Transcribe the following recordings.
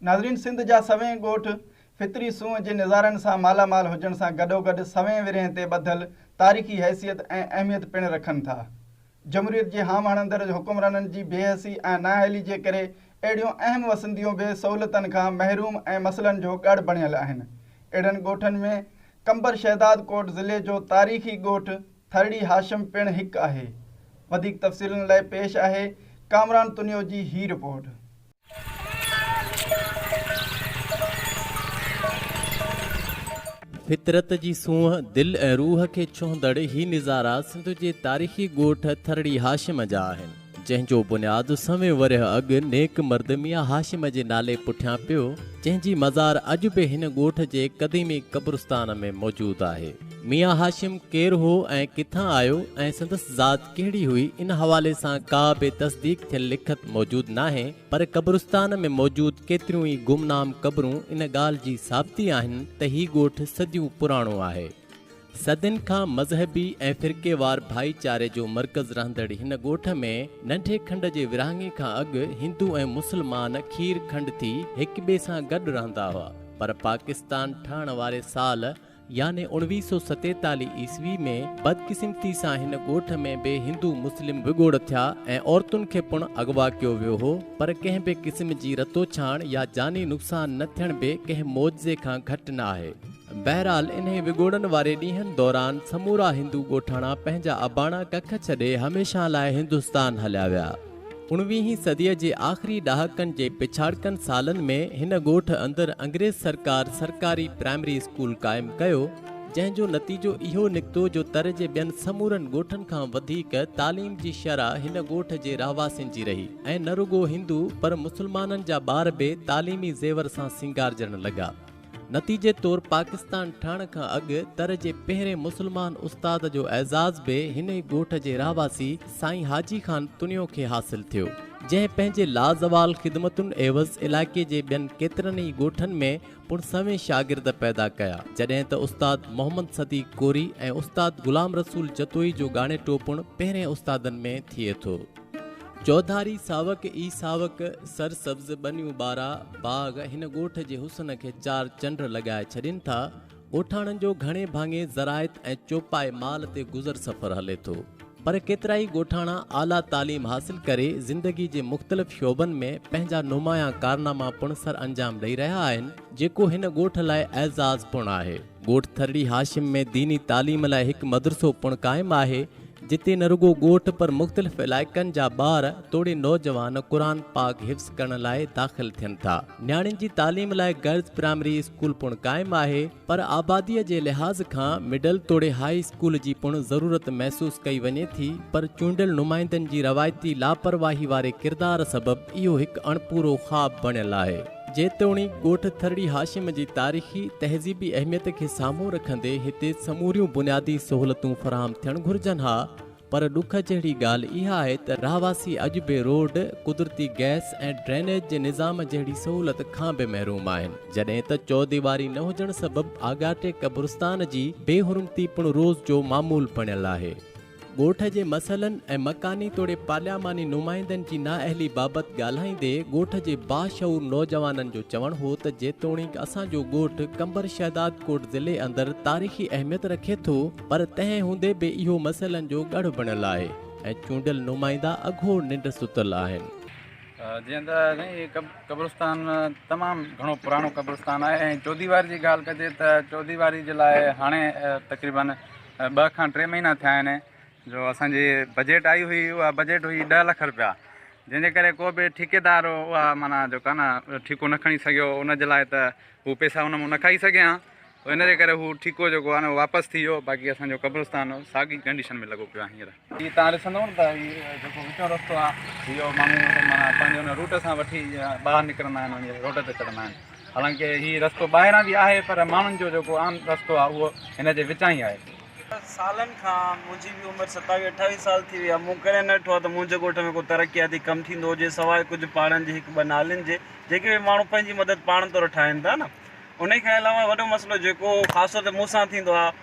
ناظرين سنڌ جا سوين ڳوٺ فطري سونهن جي نظارن سان مالا مال هجڻ سان گڏوگڏ سوين ورهين تي ٻڌل تاريخي حيثيت ۽ اهميت پڻ رکن ٿا. جمهوريت جي هام هڻندڙ حڪمرانن جي بي حسي ۽ نااهلي جي ڪري اهڙيون اهم وسنديون به سهولتن کان محروم ۽ مسئلن جو ڳڙ بڻيل آهن. اهڙن ڳوٺن ۾ قمبر شهدادڪوٽ ضلعي جو تاريخي ڳوٺ ٿرڙي هاشم پڻ هڪ آهي. وڌيڪ تفصيلن لاء پيش آهي ڪامران تنيو جي هي رپورٽ. فطرت جي سونهن، دل ۽ روح کي ڇهندڙ هي نظارا سنڌ جي تاريخي ڳوٺ ٿرڙي هاشم جا آهن، جنهن جو بنياد سوين ورهيه اڳ نيڪ مرد ميان هاشم جي نالي پٺيان پيو، جنهن جي مزار اڄ به هن ڳوٺ جي قديمي قبرستان ۾ موجود آهي. ميان هاشم ڪير هو ۽ ڪٿان آيو ۽ سندس ذات ڪهڙي هئي ان حوالي سان ڪا به تصديق ٿيل لکت موجود ناهي پر قبرستان ۾ موجود ڪيتريون ئي گمنام قبرون ان ڳالهه جي ثابتي آهن ته هي ڳوٺ صديون پراڻو آهي. صدين کان مذهبي ۽ فرقيوار ڀائيچاري جو مرڪز رهندڙ هن ڳوٺ ۾ ننڍي کنڊ جي ورهاڱي کان اڳ هندو ۽ مسلمان کير کنڊ ٿي هڪٻئي سان گڏ رهندا هئا پر پاڪستان ٺهڻ واري سال يعني اوڻويهه سؤ ستيتاليهه عيسوي ۾ بدقسمتي سان هن ڳوٺ ۾ به هندو مسلم وڳوڙ ٿيا ۽ عورتن کي پڻ اغوا ڪيو ويو هو پر ڪنهن به قسم جي رتوڇاڻ يا جاني نقصان نه ٿيڻ به ڪنهن معجزي کان گهٽ نه آهي بهرحال انهي وڳوڙن واري ڏينهن دوران سمورا هندو ڳوٺاڻا پنهنجا اباڻا ڪک ڇڏي هميشه لاء هندستان هليا ويا. اوڻويهين صديء جي آخري ڏهاڪن جي پڇاڙڪن سالن ۾ هن ڳوٺ اندر انگريز سرڪار سرڪاري پرائمري اسڪول قائم ڪيو، جنهن جو نتيجو اهو نڪتو جو تر جي ٻين سمورن ڳوٺن کان وڌيڪ تعليم جي شرح هن ڳوٺ جي رهواسين جي رهي ۽ نه رڳو هندو پر مسلمانن جا ٻار به تعليمي زيور سان سينگارجڻ لڳا. نتيجي طور پاڪستان ٺهڻ کان اڳ تر جي پهرين مسلمان استاد جو اعزاز به هن ئي ڳوٺ جي رهواسي سائين حاجي خان تڻيو کي حاصل ٿيو جنهن پنهنجي لازوال خدمتن عيوض علائقي جي ٻين ڪيترن ئي ڳوٺن ۾ پڻ سوين شاگرد پيدا ڪيا جڏهن ته استاد محمد صديق ڪوري ۽ استاد غلام رسول جتوئي جو ڳاڻيٽو پڻ پهرين استادن ۾ ٿئي ٿو. چوڌاري ساوڪ ئي ساوڪ، سرسبز ٻنيون ٻارا باغ هن ڳوٺ جي حسن کي چار چنڊ لڳائي ڇڏين ٿا. ڳوٺاڻن جو گهڻي ڀاڱي زراعت ۽ چوپائي مال تي گذر سفر هلي ٿو. پر ڪيترائي ڳوٺاڻا اعليٰ تعليم حاصل ڪري زندگي جي مختلف شعبن ۾ پنهنجا نمايان ڪارناما پڻ سرانجام ڏئي رهيا آهن، جيڪو هن ڳوٺ لاء اعزاز پڻ آهي. ڳوٺ ٿرڙي هاشم ۾ ديني تعليم لاء هڪ مدرسو پڻ قائم آهي، جتي نه رڳو ڳوٺ پر مختلف علائقن جا ٻار توڙي نوجوان قرآن پاڪ حفظ ڪرڻ لاء داخل ٿين ٿا. نياڻين جي تعليم لاء گرلز پرائمري اسڪول پڻ قائم آهي، پر آباديء جي لحاظ کان مڊل توڙي هاء اسڪول جي پڻ ضرورت محسوس ڪئي وڃي ٿي، پر چونڊيل نمائندن جي روايتي لاپرواهي واري ڪردار سبب اهو هڪ اڻپورو خواب بڻيل آهي. جيتوڻيڪ ڳوٺ ٿرڙي هاشم جي تاريخي، تهذيبي اهميت کي سامهون رکندي هتي سموريون بنيادي سهولتون فراهم ٿيڻ گهرجن ها پر ڏک جهڙي ڳالهه اها آهي ته رهواسي اڄ به روڊ، قدرتي گئس ۽ ڊرينيج جي نظام جهڙي سهولت کان به محروم آهن جڏهن ته چوديواري نه هجڻ سبب آڳاٽي قبرستان جي بي حرمتي پڻ روز جو معمول بڻيل آهي. ڳوٺ جي مسئلن ۽ مڪاني توڙي پارلياماني نمائندن جي نااهلي بابت ڳالهائيندي ڳوٺ جي باشعور نوجوانن جو چوڻ هو ته جيتوڻيڪ اسان جو ڳوٺ قمبر شهدادڪوٽ ضلعي اندر تاريخي اهميت رکي ٿو پر تنهن هوندي به اهو مسئلن جو ڳڙهه بڻيل آهي ۽ چونڊيل نمائندا اگهور ننڊ ستل آهن. جيئن ته سائين هي قبرستان تمام گهڻو پراڻو قبرستان آهي ۽ چوديواري جي ڳالهه ڪجي ته چوديواري جي لاء هاڻي تقريبن ٻه کان ٽي مهينا ٿيا آهن جو اسان جي بجيٽ آئي هئي اها بجيٽ هئي ڏهه لک رپيا جنهن جي ڪري ڪو به ٺيڪيدار هو اها معنيٰ جو ڪا نه ٺيڪو نه کڻي سگهيو ان جي لاء ته هو پيسا ان مون نه کائي سگهيا آ ان جي ڪري هو ٺيڪو جيڪو آ نه واپس ٿي ويو باقي اسان جو قبرستان ساڳي ڪنڊيشن ۾ لڳو پيو آ هينئر هي تهان ڏسندؤ نه ته هي جيڪو وچون رستو آهي اهو ماڻهو معنيٰ پنهنجي ان روٽ سان وٺي ٻاهر نڪرندا آهن وڃي روڊ تي چڙهندا آهن حالانڪه هي رستو ٻاهران به آهي پر ماڻهن جو جيڪو عام رستو آهي اهو هن جي وچان ئي آهي. سالن کان منهنجي به عمر ستاويهه اٺاويهه سال ٿي وئي آهي مون ڪڏهن نه ڏٺو آهي ته منهنجي ڳوٺ ۾ ڪو ترقياتي ڪم ٿيندو هجي سواء ڪجهه پاڙن جي هڪ ٻه نالين جي جيڪي به ماڻهو پنهنجي مدد پاڻ طور ٺاهين ٿا نه انهي کان علاوه وڏو مسئلو جيڪو خاص طور تي مون سان ٿيندو آهي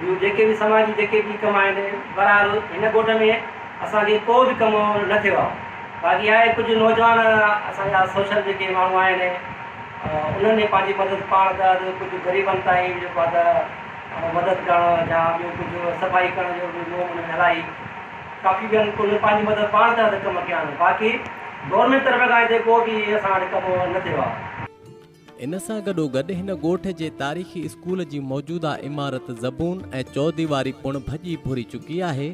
ٻيون جيڪي به سماجي جيڪي به ڪم آهن، بهرحال هن ڳوٺ ۾ اسان کي ڪو به ڪم نه ٿيو آهي. باقي آهي ڪجهه نوجوان اسان جا سوشل جيڪي ماڻهو آهن، انهن جي پنهنجي مدد پاڻ ته ٻيو ڪجهه غريبن تائين جيڪو آهي ته مدد ڪرڻ يا ٻيو ڪجهه صفائي ڪرڻ جو به مون ان ۾ الاهي ڪافي ٻين ڪن پنهنجي مدد پاڻ ته ڪم ڪيا آهن، باقي گورنمينٽ طرف کان هتي ڪو به اسان وٽ ڪم نه ٿيو آهي. ان سان گڏوگڏ هن ڳوٺ جي تاريخي اسڪول جي موجوده عمارت زبون ۽ چوديواري پڻ ڀڄي ڀري چڪي آهي،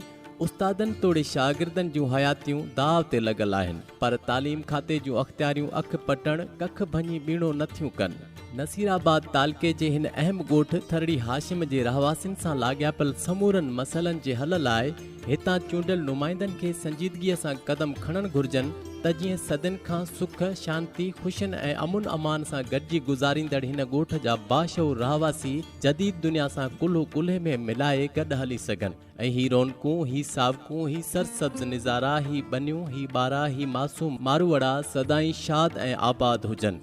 استادن توڙي شاگردن جون حياتيون داء تي لڳل آهن، پر تعليم کاتي جون اختياريون اک پٽڻ، ڪک ڀڃي ٻيڻو نه ٿيون ڪن. نصير آباد تعلقي جي هن اهم ڳوٺ ٿرڙي هاشم جي رهواسين سان لاڳاپيل سمورن مسئلن جي حل لاء، هتان چونڊيل نمائندن کي سنجيدگيء سان قدم کڻڻ گهرجن ته جيئن صدين کان سک، شانتي، خوشين ۽ امن امان سان گڏجي گذاريندڙ هن ڳوٺ جا باشعور رهواسي جديد دنيا سان ڪلهو ڪلهي ۾ ملائي گڏ هلي سگهن ۽ هي رونقون، هي ساوڪون، هي سرسبز نظارا، هي ٻنيون، هي ٻارا، هي معصوم ماروئڙا سدائين شاد ۽ آباد هجن.